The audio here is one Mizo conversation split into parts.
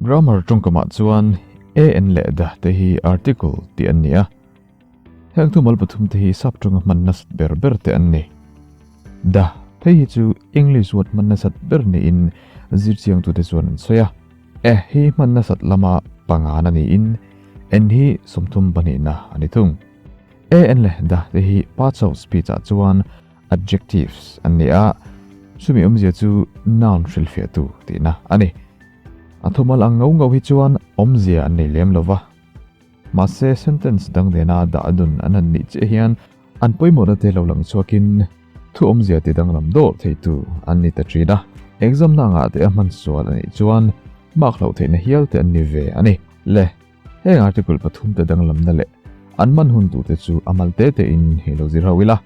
Grammar tawngkamah chuan a en leh da te hi article tih an ni a. Heng thu mal pathum te hi sub tanga hman nasat ber ber te an ni. Da phei hi chu English word hman nasat ber niin zirchiangtu te chuan an sawi a. A hi hman nasat lama pangan a niin en hi sawmthum pahnihna a ni thung. A en leh da te hi parts of speech ah chuan, adjectives, an ni a, chumi awmzia chu noun hrilhfiahtu tihna a ni. A thawhmal ang ngauh ngauh hi chuan awmzia an nei lem lova, mahse sentence dang nena dah dun an han nih chiah hian an pawimawhna te lo lang chhuakin thuawmzia ti danglam dawh theitu an ni ta thin a, examna angah te a hmansual a nih chuan mark hloh theihna hial te an ni ve a ni. Le, heng article pathum te danglamna leh an man hun tute chu a mal te tein hi lo zir ho ila.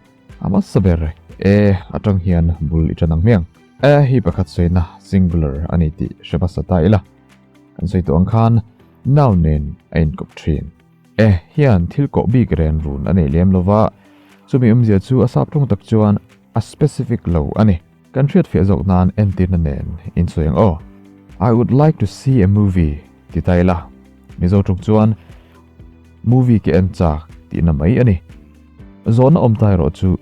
A hmasa ber e. E, a tang hian bul i tan ang hmiang. E hi pakhat sawiina, singular, a ni tih hre basa ta ila, kan sawi tawh ang khan noun nen a inkawp thin. E hian thil koh bik ren run a nei lem lo va, chumi awmzia chu a sap thung tak chuan a specific lo a ni. Kan hriat fiah zawk nan entirna nen in sawi ang aw. I would like to see a movie ti ta ila, Mizo ṭuk chuan Movie ka en chak tihna mai a ni. Zawhna awm ta erawh chu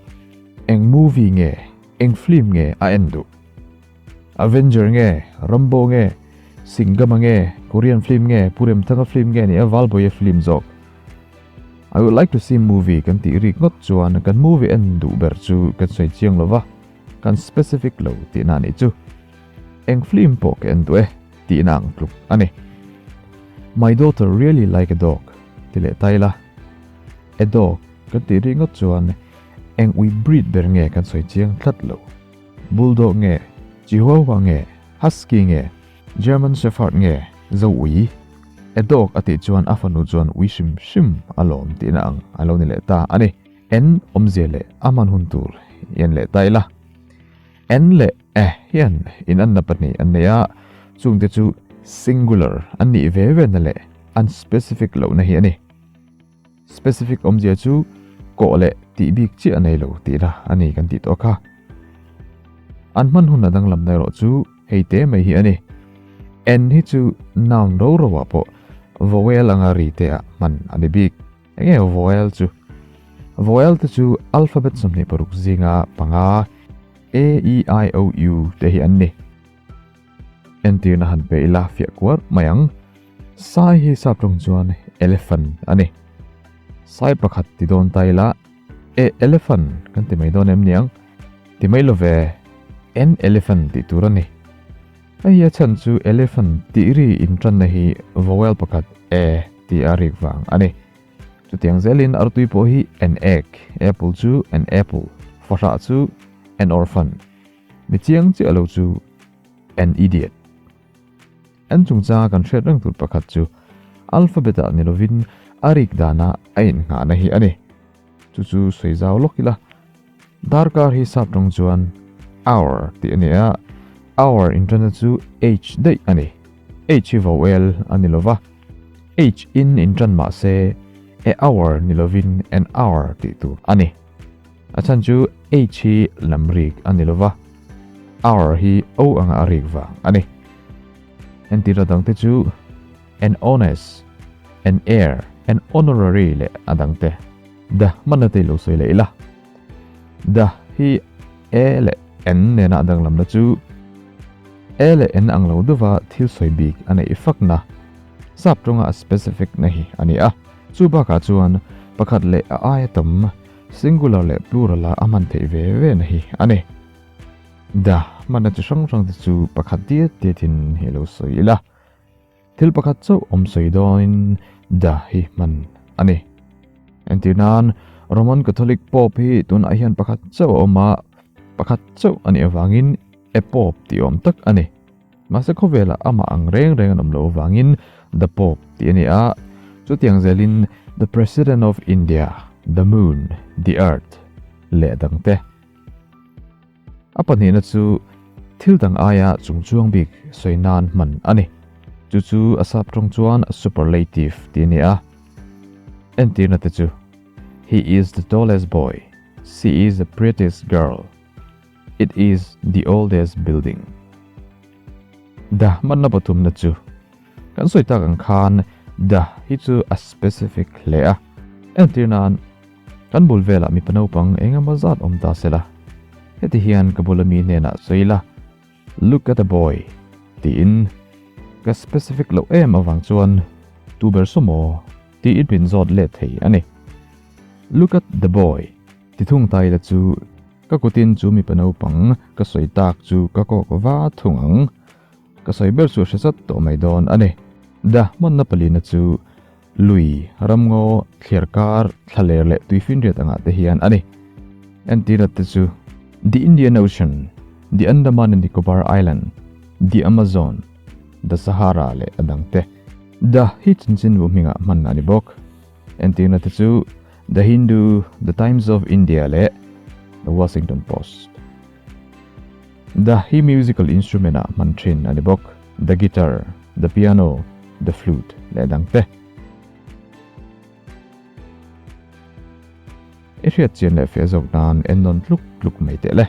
eng movie nge, eng film nge a en duh? Avenger nge, Rambo nge, Singama nge, Korean film nge, Pu Remthanga film nge nia Valbawiya film zawk I would like to see movie kan tih rik ngawt chuan kan movie en duh ber chu kan sawi chiang lo va. Kan specific lo tihna anih chu. Eng flim pawh ka en duh e tihna ang tluk a ni. My daughter really like a dog ti leh ta ila. A dog kan tih rih ngawt chuan eng ui breed ber nge kan sawi chiang tlat lo. Bulldog nge, Chihuahua nge, Husky nge, German Shepherd nge zo ui. A dog a tih chuan a fanu chuan ui hrim hrim a lawm tihna ang a lo ni leh ta a ni. En awmzia leh a man hun tur i en leh ta ila. En leh a hian inanna pahnih an nei a, chungte chu singular an nih ve vena leh unspecific lohna hi a ni. Specific awmzia chu kawh leh tih bik chiah a nei lo tih ila a ni kan tih tawh kha. An man hun a danglam na erawh chu hei te mai hi a ni. En hi chu noun ro ro ah pawh vowel anga ri te ah hman a ni bik. Eng nge vowel chu? Vowel te chu alphabet sawmhnih paruk zinga panga A, E, I, O, U te hi an ni. Entirna han pe ila fiah kuar mai ang. Sai hi sap tawng chuan elephant a ni. Sai pakhat ti dawn ta ila E elephant kan ti mai dawn em niang? Ti mai lo ve. N elephant tih tur a ni. Hei a chhan chu elephant tih ri inṭanna hi vowel pakhat a tih a rik vang a ni. Chutiang zelin artui pawh hi an egg, apple chu an apple, fahlah chu an orphan, mi chiang chiah lo chu an idiot. An chungchanga kan hriat reng tur pakhat chu alphabet-ah ni lovin a rik dana a inhngahna hi a ni. chu chu sawi zau lawk ila darkar hi sap tawng chuan hour tih a ni a hour in tana chu age daih a ni age hi vowel a ni lova age in in tan mah se a hour ni lovin an hour tih tur a ni a chhan chu age hi lam rik a ni lova hour hi o anga a rik vang a ni entira dangte chu an honest, an heir, an honorary leh a dang te. The hmanna te i lo sawi leh ila. The hi a leh an nena a danglamna chu a leh an ang lo deuhva thil sawi bik a neih fakna sap tawnga a specific na hi a ni a. Chu bakah chuan pakhat leh a aia tam singular leh plural a a hman theih ve ve na hi a ni. The hmanna chi hrang hrang te chu pakhat tiat tiatin i lo sawi ila. Thil pakhat chauh awm sawi dawnin da hi hman a ni. Entir nan, Roman Catholic Pope hi tunah hian pakhat chauh a awm a, pakhat chauh a nih avangin E Pope tih awm tak a ni. Mahse khawvelah amah ang reng reng an awm lo avangin The Pope tih a ni a. Chutiang zelin The President of India, The Moon, The Earth leh dangte. A pahnihna chu thil dang aia chung chuang bik sawi nan hman a ni. Chu chu a sap tawng chuan superlative tih a ni a. Entirna te chu, He is the tallest boy. She is the prettiest girl. It is the oldest building. The hmanna pathumna chu, kan sawi tak ang khan the hi chu a specific hle a. Entirna'n. Kan bul velah mipa naupang eng emaw zat awm ta sela, heti hian ka bula mi hnenah sawi la, Look at a boy! tiin ka specific loh em avang chuan, Tu ber saw maw? tiin min zawt let thei a ni. Look at the boy! ti thung ta ila chu ka kutin chu mipa naupang ka sawi tak chu ka kawk va thung ang. Ka sawi ber chu a hre sat tawh mai dawn a ni. The hmanna palina chu lui, ramngaw, thliar kar, thla ler leh tui finriat angah te hian a ni. Entirah te chu The Indian Ocean, The Andaman and Nicobar Island, The Amazon, The Sahara leh a dang te The hi chinchin vu hmingah hmanna a ni bawk. Entirna te chu The Hindu, The Times of India leh The Washington Post. The hi musical instrument ah hman thin a ni bawk, the guitar, the piano, the flute leh dang te. I hriat chian leh fiah zawk nan en nawn tluk tluk mai teh le.